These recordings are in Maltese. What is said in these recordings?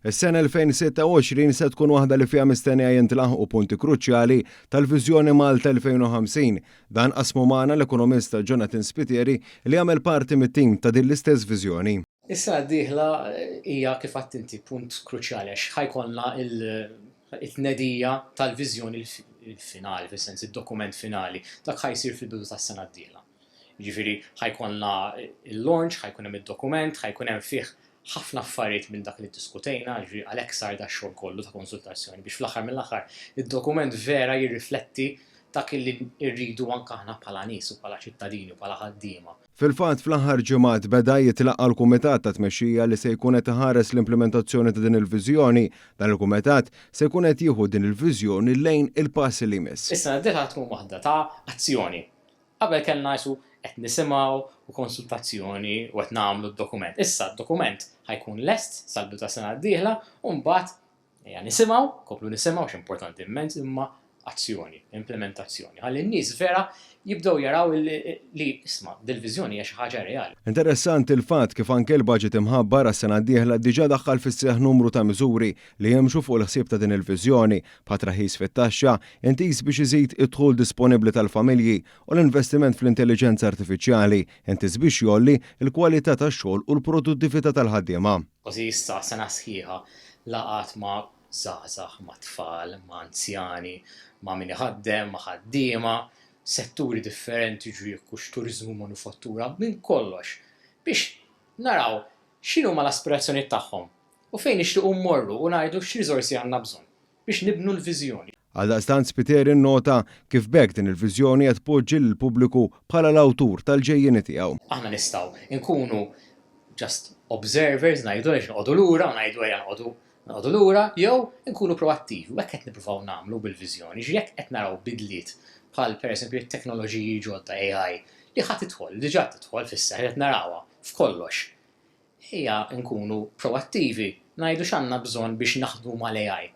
Is-sena 2026 se tkun waħda li fiha mistennija jintlaħqu punti kruċjali tal-Viżjoni Malta 2050. Dan qasmu magħna l-ekonomista Jonathan Spiteri li jagħmel parti mit-tim ta' din l-istess viżjoni. Is-sena d-dieħla hija kif għedt inti punt kruċjali għax ħa jkollna t-tnedija tal-viżjoni finali, fis-sens id-dokument finali. Dak ħa jsir fil-bidu tas-sena d-dieħla. Jiġifieri ħa jkollna l-launch, ħa jkun hemm id-dokument, ħa jkun hemm fih ħafna affarijiet minn dak li ddiskutejna, jiġifieri għalhekk sar dax-xogħol kollu ta' konsultazzjoni biex fl-aħħar mill-aħħar id-dokument vera jirrifletti dak li rridu anke aħna bħala nies u bħala ċittadini u bħala ħaddiema. Fil-fatt, fl-aħħar ġimgħat beda jitlaqqa' l-kumitat ta' tmexxija li se jkun qed iħares l-implimentazzjoni ta' din il-viżjoni. Dan il-kumitat se jkun qed jieħu din il-viżjoni lejn il-pass li jmiss. Is-sena d-dieħla tkun waħda ta' azzjoni, Qabel kellna isu qed nisimgħu u konsultazzjoni u qed nagħmlu d-dokument. Issa d-dokument ħa jkun lest sal-bidu tas-sena d-dieħla u mbagħad ejja nisimgħu, nkomplu nisimgħu għax importanti immens imma azzjoni, implimentazzjoni. Ħalli n-nies vera jibdew jaraw li, isma', dil-viżjoni hija xi ħaġa reali. Interessanti l-fatt kif anke l-baġit imħabbar għas-sena d-dieħla diġà daħħal fis-seħħ numru ta' miżuri li jimxu fuq il-ħsieb ta' din il-viżjoni. bħat traħħis fit-taxxa, intiż biex iżid id-dħul disponibbli tal-familji, u l-investiment fl-intelliġenza artifiċjali, intiż biex jgħolli l-kwalità tax-xogħol u l-produttività tal-ħaddiema. Kważi issa sena sħiħa, laqgħat ma' żgħażagħ, ma' tfal, ma' anzjani, ma' min iħaddem, ma' ħaddiema, setturi differenti, ġwiekkux, turiżmu, manufattura, minn kollox, biex naraw x'inhuma l-aspirazzjonijiet tagħhom, U fejn nixtiequ mmorru u ngħidu x'riżorsi għandna bżonn biex nibnu l-viżjoni. Għaldaqstant Spiteri nnota kif b'hekk din il-viżjoni qed tpoġġi lill-pubbliku bħala l-awtur tal-ġejjieni tiegħu. Aħna nistgħu nkunu just observers, ngħidu għaliex noqogħdu lura u ngħidu ejja noqogħdu noqogħdu lura, jew inkunu proattivi u hekk qed nippruvaw nagħmlu bil-viżjoni. Jiġifieri jekk qed naraw bidliet bħal pereżempju t-teknoloġiji ġodda AI li ħa tidħol, diġà tidħol fis-seħħ, qed narawha f'kollox. Ejja nkunu proattivi, ngħidu x'għandna bżonn biex naħdmu mal-AI.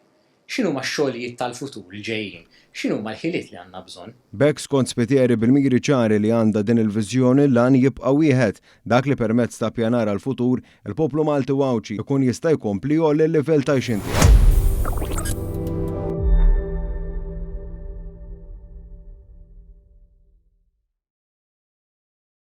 X'inhuma x-xogħlijiet tal-futur li ġejjin? X'inhuma l-ħiliet li għandna bżonn? B'hekk, skont Spiteri, bil-miri ċari li għandha din il-viżjoni, l-għan jibqa' wieħed, dak li permezz ta' ppjanar għall-futur, il-poplu Malti u Għawdxi jkun jista' jkompli jgħolli l-livell t'għajxien tiegħu.